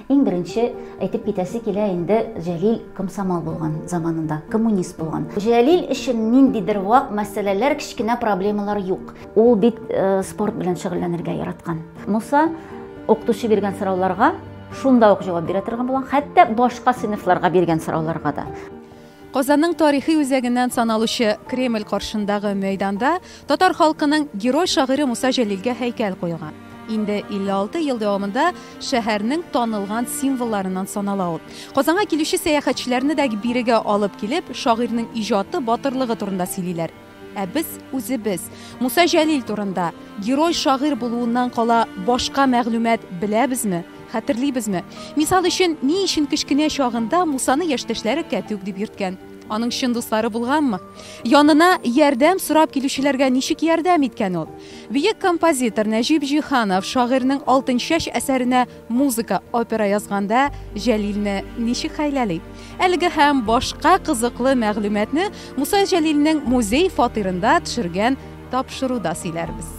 Иң беренче әйтеп китәсе килә инде Җәлил комсомол булган заманында, коммунист булган. Җәлил өчен ниндидер вак мәсьәләләр, кечкенә проблемалар юк. Ул бит э, спорт белән шөгыльләнергә яраткан. Муса укытучы биргән сорауларга шунда ук җавап бирә торган булган, хәтта башка сыйныфларга биргән сорауларга да. Казанның тарихи үзәгеннән саналучы Кремль каршындагы мәйданда татар халкының герой-шагыйре Муса Җәлилгә һәйкәл куелган. Инде 56 ел дәвамында шәһәрнең танылган символларыннан санала ул. Казанга килүче сәяхәтчеләрне дә бирегә алып килеп, шагыйрьнең иҗаты, батырлыгы турында сөйлиләр. Ә без үзебез Муса Җәлил турында герой шагыйрь булуыннан кала башка мәгълүмат беләбезме? Хәтерлибезме? Мисал өчен, ни өчен кечкенә чагында Мусаны яшьтәшләре кәтүк дип йөрткән? Аның чын дуслары булганмы? Янына ярдәм сорап килүчеләргә ничек ярдәм иткән ул? Бөек композитор Нәҗип Җиһанов шагыйрьнең Алтынчәч әсәренә Музыка, опера язганда Җәлилне ничек хәйләли? Әлеге һәм башка кызыклы мәгълүматны Муса Җәлилнең музей фатирында төшергән тапшыруда сөйләрбез.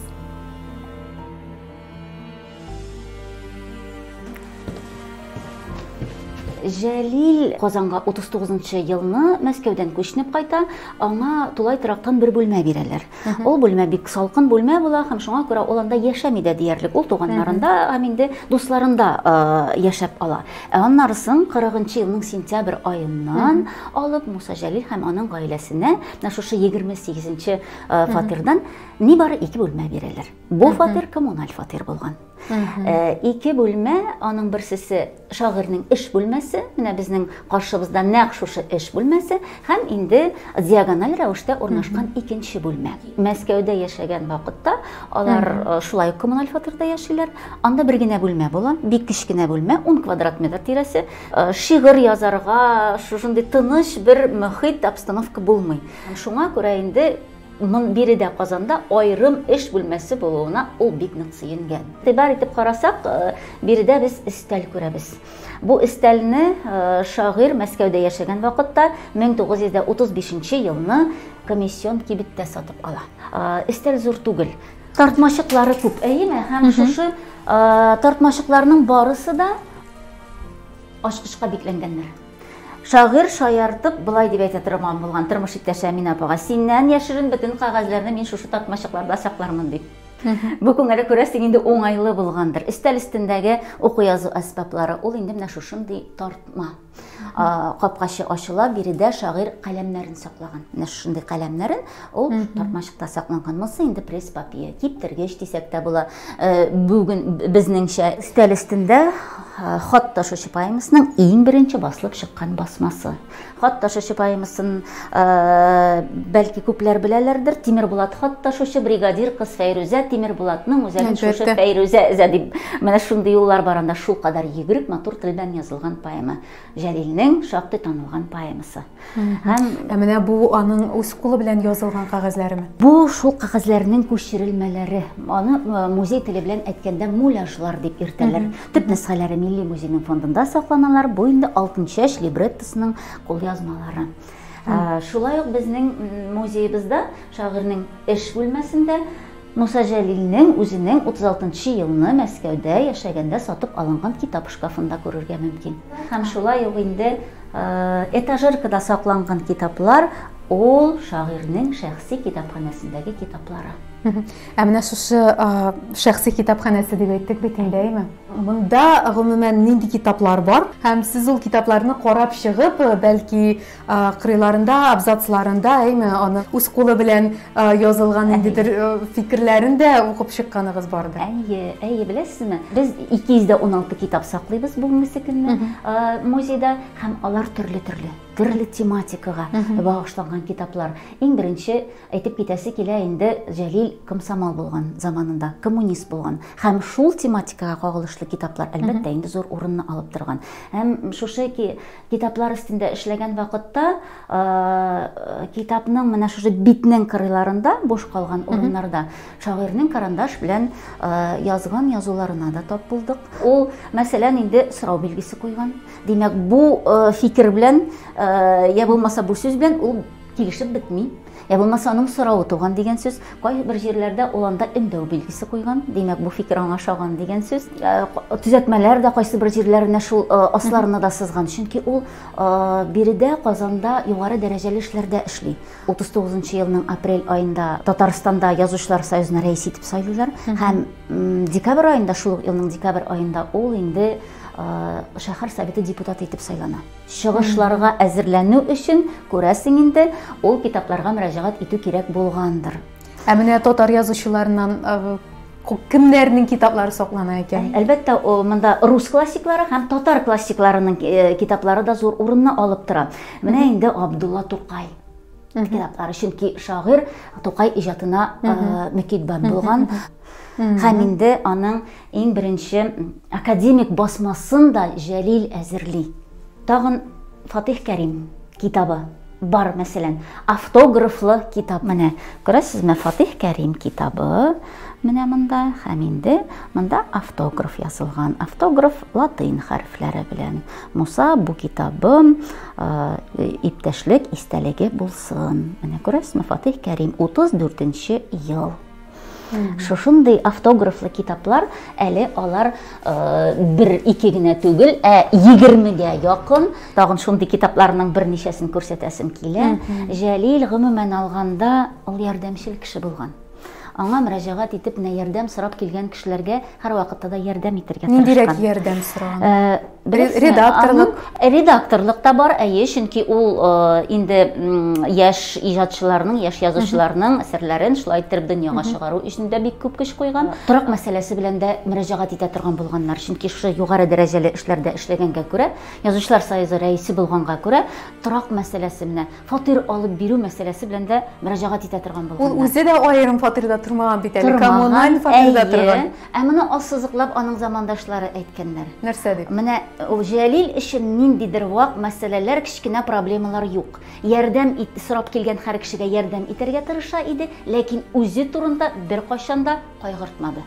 Җәлил Казанга 39 елны Мәскәүдән күчнеп кайта, аңа тулай торактан бер бүлмә бирәләр. Ул бүлмә бик салкын бүлмә була һәм шуңа күрә ул анда яшәми дә диярлек. Ул туганнарында һәм инде дусларында яшәп ала. Ә аннары соң 40 елның сентябрь аеннан алып Муса Җәлил һәм аның гаиләсенә менә шушы 28 фатирдан нибары ике бүлмә бирәләр. Бу фатир коммуналь фатир булган. Ике бүлмә, аның берсесе шагыйрьнең эш бүлмәсе, менә безнең каршыбызда нәкъ шушы эш бүлмәсе һәм инде диагональ рәвештә урнашкан икенче бүлмә. Мәскәүдә яшәгән вакытта алар э, шулай ук коммуналь фатирда яшиләр. Анда бер генә бүлмә була, бик кечкенә бүлмә, 10 квадрат метр тирәсе. Э, шигырь язарга шушындый тыныч бер мөхит, обстановка булмый. Шуңа күрә инде Моннан бире дә Казанда аерым эш бүлмәсе булуына ул бик нык сөенгән. Игътибар итеп карасак, э, биредә без өстәл күрәбез. Бу өстәлне э, шагыйрь Мәскәүдә яшәгән вакытта 1935 елны комиссион кибеттә сатып ала. Э, өстәл зур түгел. Тартмачыклары күп, әйеме? Һәм шушы тартмачыкларның барысы да ачкычка бикләнгәннәр. Шагыйрь шаяртып болай дип әйтә торган булган тормыш иптәше Әминә апага, синнән яшерен бөтен кәгазьләрне мин шушы тартмачыкларда саклармын дип. Бу күңеле күрәсең инде уңайлы булгандыр. Өстәл өстендәге уку язу әсбаплары, ул инде менә шушындый тартма. Капкачы ачыла, биредә шагыйрь каләмнәрен саклаган. Менә шушындый каләмнәрен. Ул mm -hmm. тартмачыкта сакланган. Монысы инде пресс-папье, киптергеч дисәк тә була. Э, бүген безнеңчә стәл өстендә э, хат ташучы поэмасының иң беренче басылып чыккан басмасы. Хат ташучы поэмасын э, бәлки күпләр беләләрдер. Тимербулат хат ташучы бригадир кыз Фәйрүзә Тимербулатның үзәген шушы Фәйрүзә эзә дип. Менә шундый юллар баранда шул кадәр йөгерек матур телдән язылган поэма. Җәлилнең шактый танылган поэмасы. Һәм Ә менә бу аның үз кулы белән язылган кәгазьләреме? Бу шул кәгазьләрнең күчерелмәләре. Аны музей теле белән әйткәндә муляжлар дип йөртәләр. Төп нөсхәләре Милли музейның фондында сакланалар. Бу инде Алтынчәч либреттосының кулъязмалары. Шулай ук безнең музеебызда шагыйрьнең эш бүлмәсендә Муса Җәлилнең үзенең 36 нчы елны Мәскәүдә яшәгәндә сатып алынган китап шкафында күрергә мөмкин. Һәм шулай ук инде этажеркада сакланган китаплар ул шагыйрьнең шәхси китапханәсендәге китаплары. Ә менә шушы шәхси китапханәсе дип әйттек бит инде, әйме? Монда гомумән нинди китаплар бар? Һәм сез ул китапларны карап чыгып, бәлки кырыйларында, абзацларында, әйме, аны үз кулы белән язылган ниндидер фикерләрен дә укып чыкканыгыз бардыр. Әйе, әйе, беләсезме? Без 216 китап саклыйбыз бүгенге көнне музейда һәм алар төрле-төрле, төрле тематикага багышланган китаплар. Иң беренче әйтеп китәсе килә инде Җәлил комсомол булган заманында, коммунист булган һәм шул тематикага кагылышлы китаплар әлбәттә инде зур урынны алып торган. Һәм шушы Китаплар өстендә эшләгән вакытта китапның менә шушы битнең кырыйларында, буш калган урыннарда шагыйрьнең карандаш белән язган язуларына да тап булдык. Ул, мәсәлән, инде сорау билгесе куйган. Димәк, бу фикер белән, я булмаса бу сүз белән ул килешеп бетми. Ә булмаса аның соравы туган дигән сүз. Кайбер җирләрдә ул анда өндәү билгесе куйган. Димәк, бу фикер аңа ошаган дигән сүз. Э, төзәтмәләр дә кайсы бер җирләренә шул э, асларына да сызган. Чөнки ул э, биредә Казанда югары дәрәҗәле эшләрдә эшли. 39 елның апрель аенда Татарстанда язучылар союзына рәис итеп сайлыйлар һәм декабрь аенда шул елның декабрь аенда ул инде шәһәр советы депутаты итеп сайлана. Чыгышларга әзерләнү өчен, күрәсең инде, ул китапларга мөрәҗәгать итү кирәк булгандыр. Ә менә татар язучыларыннан кемнәрнең китаплары саклана икән? Әлбәттә, монда рус классиклары һәм татар классикларының э, китаплары да зур урынны алып тора. Менә инде Абдулла Тукай китаплары, чөнки шагыйрь Тукай иҗатына э, мөкиббән булган. Һәм инде аның иң беренче академик басмасын да Җәлил әзерли. Тагын Фатих Кәрим китабы бар, мәсәлән, автографлы китап. Менә, күрәсезме, Фатих Кәрим китабы менә монда, һәм инде монда автограф язылган. Автограф латин хәрефләре белән. Муса, бу китабым, э, иптәшлек истәлеге булсын. Менә күрәсезме, Фатих Кәрим, 34 нче ел. Шушындый автографлы китаплар әле алар э, бер ике генә түгел, ә егермегә якын. Тагын шундый китапларның берничәсен күрсәтәсем килә. Җәлил гомумән алганда ул ярдәмчел кеше булган. Аңа мөрәҗәгать итеп, менә ярдәм сорап килгән кешеләргә һәрвакытта да ярдәм итәргә тырышкан. Ниндирәк ярдәм сораган? Э, Беләсезме? Редакторлык. Аның редакторлык та бар, әйе, чөнки ул э, инде м, яшь иҗатчыларның, яшь язучыларның әсәрләрен шулай иттереп дөньяга чыгару өчен дә бик күп көч куйган. Торак мәсьәләсе белән дә мөрәҗәгать итә торган булганнар, чөнки шушы югары дәрәҗәле эшләрдә эшләгәнгә күрә, Язучылар союзы рәисе булганга күрә, торак мәсьәләсе менә фатир алып бирү мәсьәләсе белән дә мөрәҗәгать итә торган Ул булганнар. үзе дә аерым фатирда тормаган бит әле, Тормаган, коммуналь фатирда әйе. торган. Ә моны ассызыклап аның замандашлары әйткәннәр. Нәрсә дип? Менә Җәлил өчен ниндидер вак мәсьәләләр, кечкенә проблемалар юк. Ярдәм ит, сорап килгән һәр кешегә ярдәм итәргә тырыша иде, ләкин үзе турында беркайчан да кайгыртмады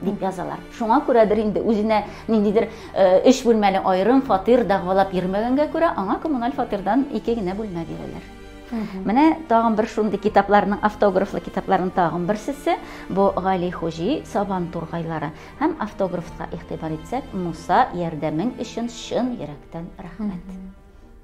дип язалар. Шуңа күрәдер инде, үзенә ниндидер өч бүлмәле аерым фатир дәгъвалап йөрмәгәнгә күрә, аңа коммуналь фатирдан ике генә бүлмә бирәләр. Менә тагын бер шундый китапларның, автографлы китапларның тагын берсесе, бу Гали Хуҗи Сабан тургайлары. Һәм автографка игътибар итсәк, Муса, ярдәмең өчен чын йөрәктән рәхмәт.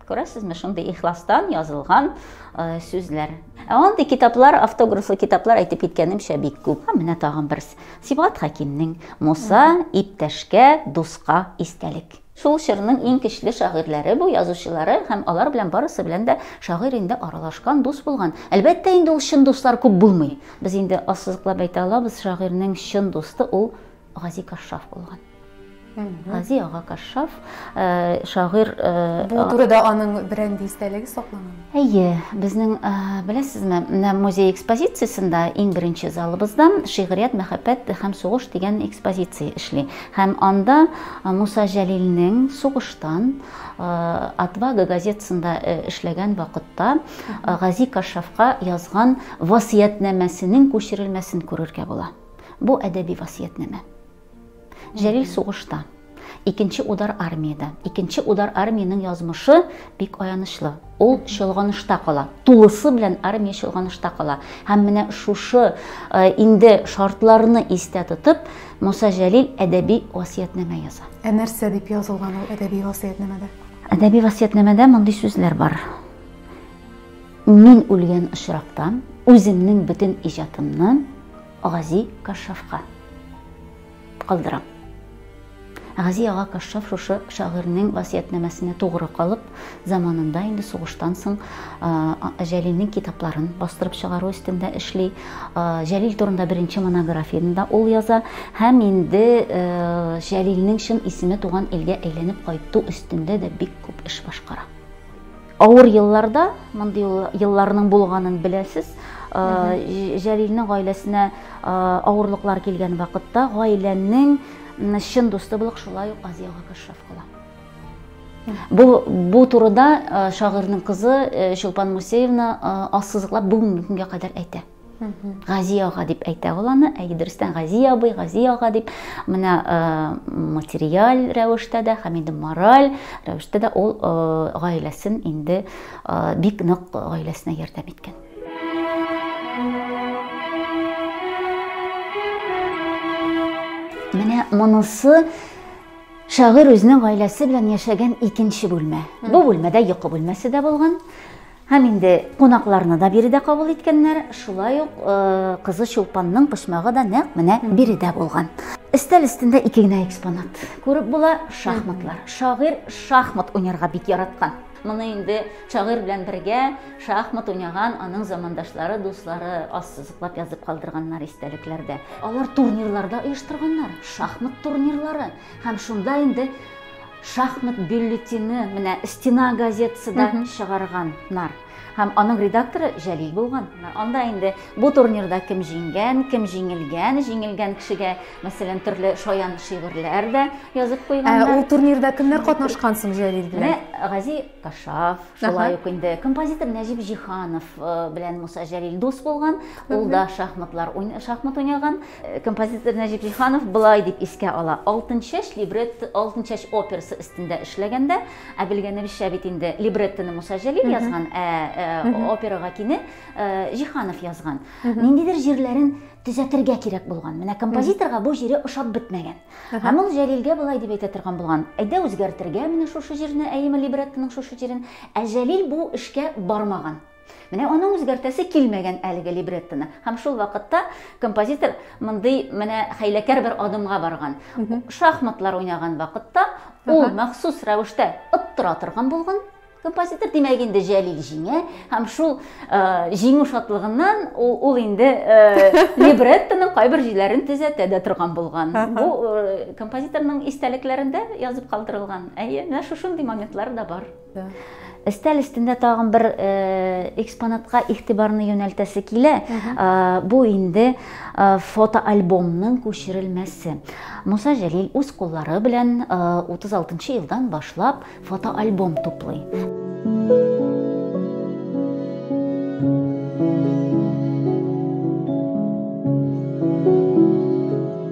Күрәсезме, шундый ихластан язылган э, сүзләр. Ә андый китаплар, автографлы китаплар әйтеп киткәнемчә бик күп. Һәм менә тагын берсе. Сибгат Хәкимнең Муса, иптәшкә, дуска истәлек. Шул чорның иң көчле шагыйрьләре бу, язучылары, һәм алар белән барысы белән дә шагыйрь инде аралашкан, дус булган. Әлбәттә инде, ул чын дуслар күп булмый. Без инде ассызыклап әйтә алабыз, шагыйрьнең чын дусты ул Гази Кашшаф булган. Гази ага Кашшаф, шагыйрь. Бу турыда аның берәр дистәлеге сакланган? Әйе, безнең, беләсезме, менә музей экспозициясендә иң беренче залыбызда Шигърият, мәхәббәт һәм сугыш дигән экспозиция эшли. Һәм анда Муса Җәлилнең сугыштан Отвага газетасында эшләгән вакытта Гази Кашафка язган васыятьнамәсенең күчерелмәсен күрергә була. Бу әдәби васыятьнамә. Җәлил сугышта. Икенче удар армиядә. Икенче удар армиянең язмышы бик аянычлы. Ул чолганышта кала. Тулысы белән армия чолганышта кала. Һәм менә шушы э, инде шартларны истә тотып, Муса Җәлил әдәби васиятнамә яза. Ә нәрсә дип язылган ул әдәби васиятнамәдә? Әдәби васиятнамәдә мондый сүзләр бар. Мин үлгән очракта үземнең бөтен иҗатымны Гази Кашшафка калдырам. Гази ага Кашшаф шушы шагыйрьнең васыятнамәсенә тугры калып, заманында инде сугыштан соң Җәлилнең китапларын бастырып чыгару өстендә эшли. Җәлил турында беренче монографияне дә ул яза һәм инде Җәлилнең чын исеме туган илгә әйләнеп кайту өстендә дә бик күп эш башкара. Авыр елларда, мондый елларның булганын беләсез, Җәлилнең гаиләсенә авырлыклар килгән вакытта гаиләнең чын дусты булып шулай ук Азия Гакашев кала. Бу, бу турыда шагыйрьнең кызы Чулпан Мусеевна ассызыклап бүгенге көнгә кадәр әйтә. Гази ага дип әйтә ул аны, әй дөрестән Гази абый, Гази ага дип, менә э, материаль рәвештә дә һәм инде мораль рәвештә дә ул э, гаиләсен инде э, бик нык гаиләсенә ярдәм иткән. Менә монысы шагыйрь үзенең гаиләсе белән яшәгән икенче бүлмә. Бу бүлмәдә йокы бүлмәсе дә булган. Һәм инде кунакларны да биредә кабул иткәннәр, шулай ук кызы Чулпанның почмагы да нәкъ менә биредә булган. Өстәл өстендә ике генә экспонат. Күреп була шахматлар. Шагыйрь шахмат уйнарга бик яраткан. Моны инде шагыйрь белән бергә шахмат уйнаган аның замандашлары, дуслары ассызыклап язып калдырганнар истәлекләрдә. Алар турнирларда оештырганнар, шахмат турнирлары. Һәм шунда инде Шахмат бюллетене менә Стена газетасы да чыгарганнар. Һәм аның редакторы Җәлил булган. Анда инде бу турнирда кем җиңгән, кем җиңелгән, җиңелгән кешегә, мәсәлән, төрле шаян шигырьләр дә язып куйганнар. Ә ул турнирда кемнәр катнашкан соң Җәлил белән? Менә Гази Ташав, шулай ук инде композитор Нәҗип Җиһанов белән Муса Җәлил дус булган. Ул да шахматлар, шахмат уйнаган. Композитор Нәҗип Җиһанов болай дип искә ала. Алтынчәч либретто, Алтынчәч операсы өстендә эшләгәндә, ә белгәнебезчә бит инде либреттоны Муса Җәлил язган, ә, ә операга кине ә, Җиһанов язган. Ниндидер җирләрен төзәтергә кирәк булган. Менә композиторга бу җире ошап бетмәгән. Һәм ул Җәлилгә болай дип әйтә торган булган. Әйдә үзгәртергә менә шушы җирне, әйеме либреттоның шушы җирен. Ә Җәлил бу эшкә бармаган. Менә аның үзгәртәсе килмәгән әлеге либреттоны. Һәм шул вакытта композитор мондый менә хәйләкәр бер адымга барган. Шахматлар уйнаган вакытта ул махсус рәвештә оттыра торган булган. Композитор димәк инде Җәлил җиңә һәм шул э, җиңү шатлыгыннан ул, ул инде э, либреттоның кайбер җирләрен төзәтә дә торган булган. Бу э, композиторның истәлекләрендә язып калдырылган. Әйе, менә шушындый моментлар да бар. Өстәл өстендә тагын бер э, экспонатка игътибарны юнәлтәсе килә. Э, бу инде э, фотоальбомның күчерелмәсе. Муса Җәлил үз куллары белән 36 елдан башлап фотоальбом туплый.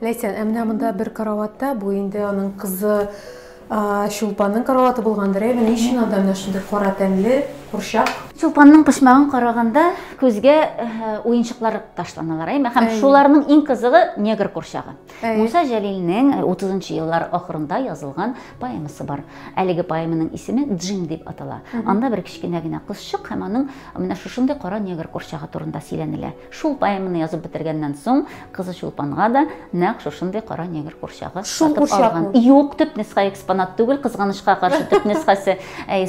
Ләйсән, ә менә монда бер караватта, бу инде аның кызы Чулпанның караваты булгандыр, әйме? Ни өчен анда менә шундый кара тәнле курчак? Чулпанның почмагын караганда күзгә уенчыклар ташланалар, әйме? Һәм шуларның иң кызыгы негр курчагы. Муса Җәлилнең 30нчы еллар ахырында язылган поэмасы бар. Әлеге поэманың исеме Джим дип атала. Анда бер кечкенә генә кызчык һәм аның менә шушындый кара негр курчагы турында сөйләнелә. Шул поэманы язып бетергәннән соң, кызы Чулпанга да нәкъ шушындый кара негр курчагы сатып алган. Юк, төп нөсха экспонат түгел, кызганычка каршы төп нөсхәсе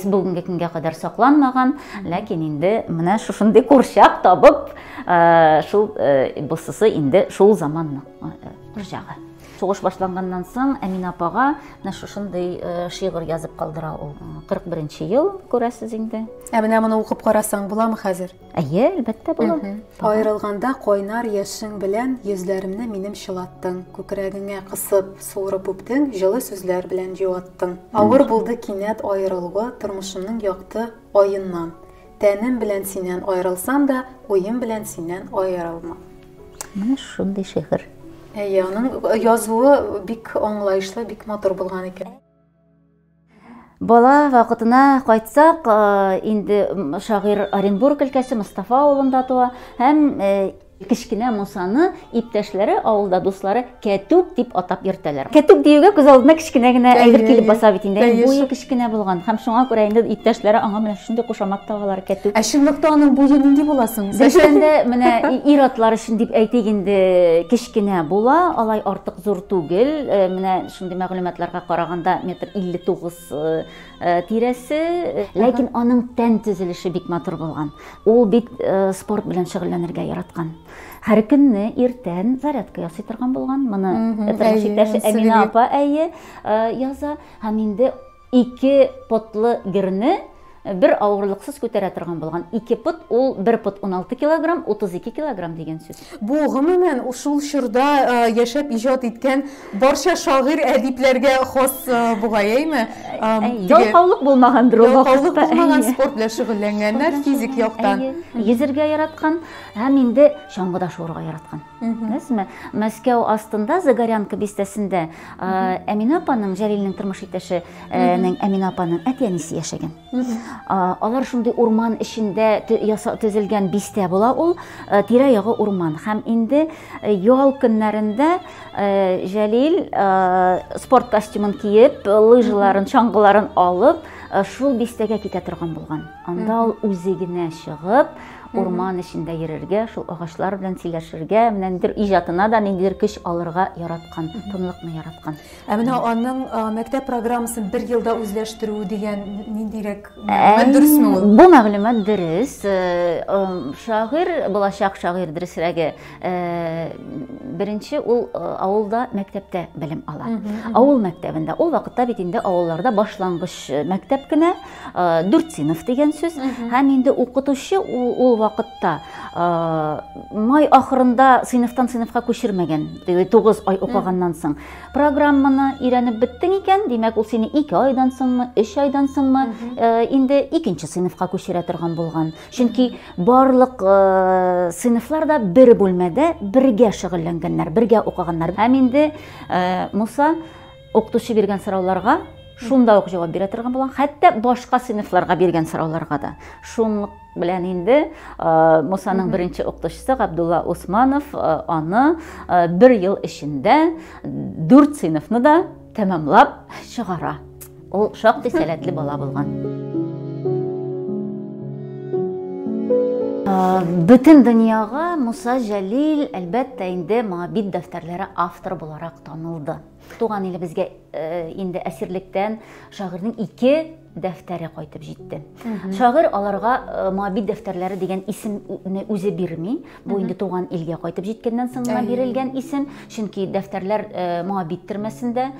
бүгенге көнгә кадәр сакланмаган. Ләкин инде менә шушындый курчак табып, э, шул э, бусысы инде шул заманның э, курчагы. Сугыш башланганнан соң Әминә апага менә шушындый э, шигырь язып калдыра ул. 41 ел, күрәсез инде. Ә менә моны укып карасаң буламы хәзер? Әйе, әлбәттә була. Аерылганда кайнар яшең белән йөзләремне минем чылаттың, күкрәгеңә кысып, суырып үптең, җылы сүзләр белән җуаттың. Авыр булды кинәт аерылуы тормышымның якты аеннан. Тәнем белән синнән аерылсам да, уем белән синнән аерылмам. Менә шундый шигырь. Әйе, аның язуы бик аңлаешлы, бик матур булган икән. Бала вакытына кайтсак, инде шагыйрь Оренбург өлкәсе Мостафа авылында туа һәм кечкенә Мусаны иптәшләре авылда дуслары Кәтүк дип атап йөртәләр. Кәтүк диюгә күз алдына кечкенә генә әйбер килеп баса бит инде. Буе кечкенә булган һәм шуңа күрә инде иптәшләре аңа менә шундый кушамат тагалар Кәтүк. Ә чынлыкта аның буе нинди була соң? Дөрестәндә менә ир-атлар өчен дип әйтик инде, кечкенә була, алай артык зур түгел. Менә Шундый мәгълүматларга караганда, метр 59 тирәсе. Ләкин аның тән төзелеше бик матур булган. Ул бик спорт белән шөгыльләнергә яраткан. Һәр көнне иртән зарядка ясый торган булган. Моны тормыш иптәше Әмина апа әйе яза. Һәм инде Ике потлы герне бер авырлыксыз күтәрә торган булган. Ике пот, ул бер пот 16 килограмм, 32 килограмм дигән сүз. Бу, гомумән, шул чорда яшәп иҗат иткән барча шагыйрь, әдипләргә хас бугай, әйме? Ялкаулык булмагандыр ул вакытта. Ялкаулык булмаган, спорт белән шөгыльләнгәннәр, физик яктан. Йөзергә яраткан һәм инде чаңгыда шуырга яраткан. Әзме? Мәскәү астында Загорянка бистәсендә Әминә апаның, Җәлилнең тормыш иптәше нең Әминә апаның әти-әнисе яшәгән. Алар шундый урман эчендә төзелгән бистә була ул, тирә-ягы урман. Һәм инде ял көннәрендә Җәлил спорт костюмын киеп, лыжаларын, чаңгыларын алып, шул бистәгә китә торган булган. Анда ул үзе генә чыгып, урман эчендә йөрергә, шул агачлар белән сөйләшергә, менә ниндидер иҗатына да ниндидер көч алырга яраткан, тынлыкны яраткан. Ә менә аның мәктәп программасын бер елда үзләштерү дигән ниндирәк мәгълүмат дөресме ул? Бу мәгълүмат дөрес. Шагыйрь, булачак шагыйрь дөресрәге, беренче ул авылда, мәктәптә белем ала. Авыл мәктәбендә. Ул вакытта бит инде авылларда башлангыч мәктәп кенә. Э, дүртсинов деген сүз һәм инде укытучы ул вакытта э, май ахырында сыйныфтан сыйныфка күчермәгән тугыз ай укыганнан соң программаны өйрәнеп беттең икән димәк ул сине ике айдан соңмы өч айдан соңмы э, инде икенче сыйныфка күчерә торган булган чөнки барлык сыйныфлар да бер бүлмәдә бергә шөгыльләнгәннәр бергә укыганнар һәм инде муса Укытучы биргән сорауларга шунда ук җавап бирә торган булган, хәтта башка сыйныфларга биргән сорауларга да. Шунлык белән инде Мусаның беренче укытучысы Габдулла Усманов аны бер ел эчендә дүрт сыйныфны да тәмамлап чыгара. Ул шактый сәләтле бала булган. Бөтен дөньяга Муса Җәлил, әлбәттә, инде Моабит дәфтәрләре авторы буларак танылды. Туган илебезгә инде әсирлектән шагыйрьнең ике дәфтәре кайтып җитте. Шагыйрь аларга Моабит дәфтәрләре дигән исемне үзе бирми. Бу инде туган илгә кайтып җиткәннән соң гына бирелгән исем, чөнки дәфтәрләр Моабит төрмәсендә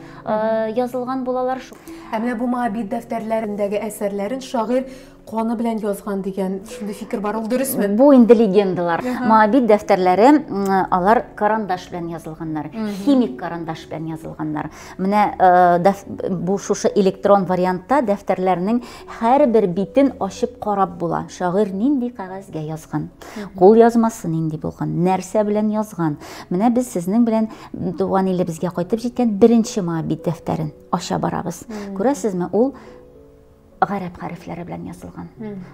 язылган булалар. Ә менә бу Моабит дәфтәрләрендәге әсәрләрен шагыйрь каны белән язган дигән шундый фикер бар ул дөресме бу инде легендалар моабит дәфтәрләре алар карандаш белән язылганнар химик карандаш белән язылганнар менә э, бу шушы электрон вариантта дәфтәрләрнең һәрбер битен ачып карап була шагыйрь нинди кәгазьгә язган кул язмасы нинди булган нәрсә белән язган менә без сезнең белән туган илебезгә кайтып җиткән беренче моабит дәфтәрен ача барабыз күрәсезме ул гарәп хәрефләре белән язылган.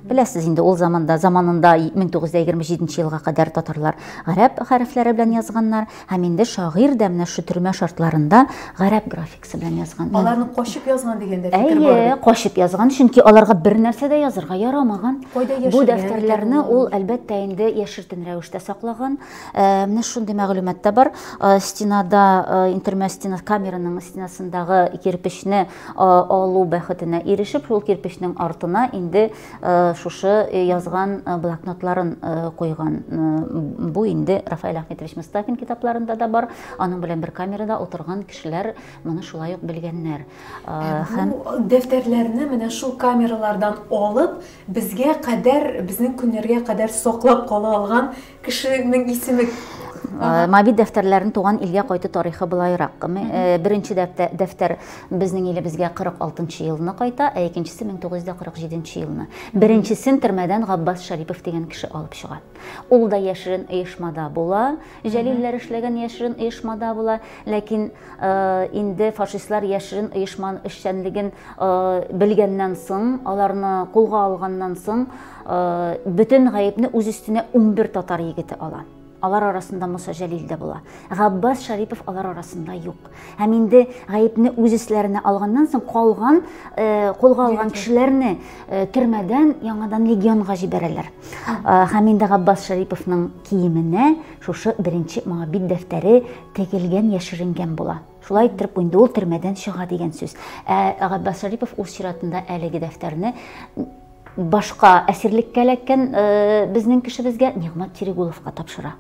Беләсез инде, ул заманда, заманында 1927 елга кадәр татарлар гарәп хәрефләре белән язганнар, һәм инде шагыйрь дә менә шушы төрмә шартларында гарәп графикасы белән язган. Аларны кочып язган дигәндә фикер бар. Әйе, кочып язган, чөнки аларга бер нәрсә дә язырга ярамаган. Бу дәфтәрләрне ул әлбәттә инде яшертен рәвештә саклаган. Э, менә шундый мәгълүмат та бар. Э, стенада, э, интермә стена камераның стенасындагы кирпечне алу бәхетенә ирешеп, шул кирпечнең артына инде шушы язган блокнотларын куйган. Бу инде Рафаэль Ахметович Мостафин китапларында да бар. Аның белән бер камерада утырган кешеләр моны шулай ук белгәннәр. Һәм дәфтәрләрне менә шул камералардан алып, безгә кадәр, безнең көннәргә кадәр саклап кала алган Кешенең исеме Э, Мави дәфтәрләрен туган илгә кайту тарихы былайрак. Э, беренче дәфтәр безнең илебезгә 46 елны кайта, ә икенчесе 1947 елны. Беренчесен төрмәдән Габбас Шарипов дигән кеше алып чыга. Ул да яшерен оешмада була, Җәлилләр эшләгән яшерен оешмада була, ләкин Э, инде фашистлар яшерен оешман эшчәнлеген э, белгәннән соң аларны кулга алганнан соң э, бөтен гаепне үз өстенә 11 татар егете ала алар арасында Муса Җәлил дә була. Габбас Шарипов алар арасында юк. Һәм инде гаепне үз өсләренә алганнан соң калган э, кулга алган кешеләрне э, төрмәдән яңадан легионга җибәрәләр. Э, һәм инде Габбас Шариповның киеменә шушы беренче моңа бит дәфтәре тегелгән яшеренгән була шулай иттереп инде ул төрмәдән чыга дигән сүз ә габбас шарипов үз чиратында әлеге дәфтәрне башка әсирлеккә эләккән э, безнең кешебезгә Нигмат Терегуловка тапшыра.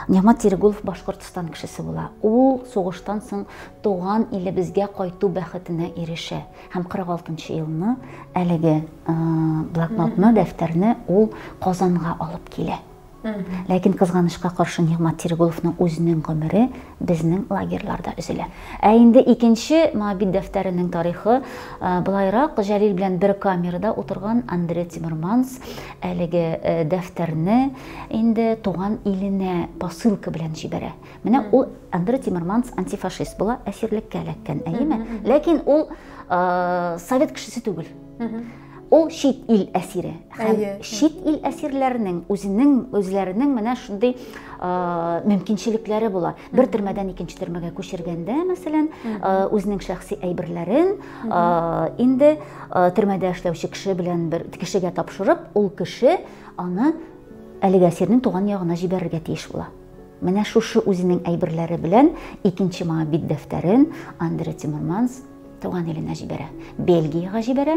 Нигмат Терегулов Башкортстан кешесе була. Ул сугыштан соң туган илебезгә кайту бәхетенә ирешә һәм 46 елны әлеге э, блокнотны, дәфтәрне ул Казанга алып килә. Ләкин кызганычка каршы Нигъмат Тирегуловның үзенең гомере безнең лагерьларда өзелә. Ә инде икенче Моабит дәфтәренең тарихы былайрак, Җәлил белән бер камерада утырган Андрей Тимерманс әлеге дәфтәрне инде туган иленә посылка белән җибәрә. Менә ул Андрей Тимерманс антифашист була, әсирлеккә эләккән, әйеме? Ләкин ул совет кешесе түгел. Ул чит ил әсире. Һәм чит ил әсирләренең үзенең үзләренең менә шундый мөмкинчелекләре була. Бер төрмәдән икенче төрмәгә күчергәндә, мәсәлән, үзенең шәхси әйберләрен инде төрмәдә эшләүче кеше белән бер кешегә тапшырып, ул кеше аны әлеге әсирнең туган ягына җибәрергә тиеш була. Менә шушы үзенең әйберләре белән икенче моңа бит дәфтәрен Андре Тимурманс туган иленә җибәрә. Бельгиягә җибәрә.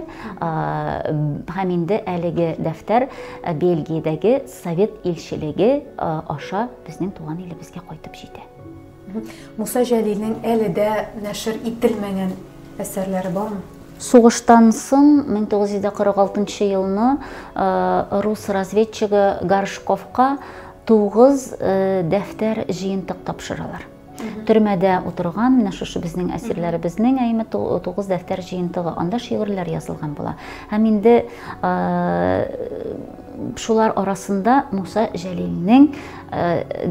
Һәм инде әлеге дәфтәр Бельгиядәге совет илчелеге аша безнең туган илебезгә кайтып җитә. Муса Җәлилнең әле дә нәшер ителмәгән әсәрләре бармы? Сугыштан соң 1946 елны рус разведчигы Горшковка 9 дәфтәр җыентык тапшыралар. төрмәдә утырган менә шушы безнең әсирләребезнең әйме тугыз дәфтәр җыентыгы анда шигырьләр язылган була һәм инде шулар арасында муса җәлилнең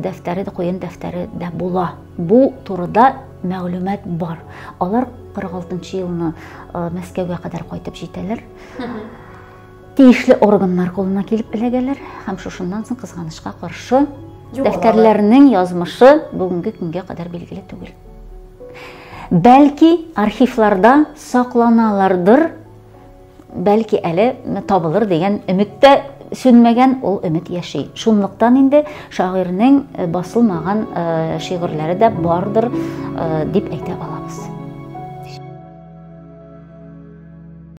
дәфтәре дә куен дәфтәре дә була бу турыда мәгълүмат бар алар 46 елны мәскәүгә кадәр кайтып җитәләр Тиешле органнар кулына килеп эләгәләр һәм шушыннан соң кызганычка каршы дәфтәрләрнең язмышы бүгенге көнгә кадәр билгеле түгел. Бәлки архивларда сакланалардыр, бәлки әле табылыр дигән өметтә сүнмәгән ул өмет яши. Шунлыктан инде шагыйрьнең э, басылмаган э, шигырьләре дә бардыр э, дип әйтә алабыз.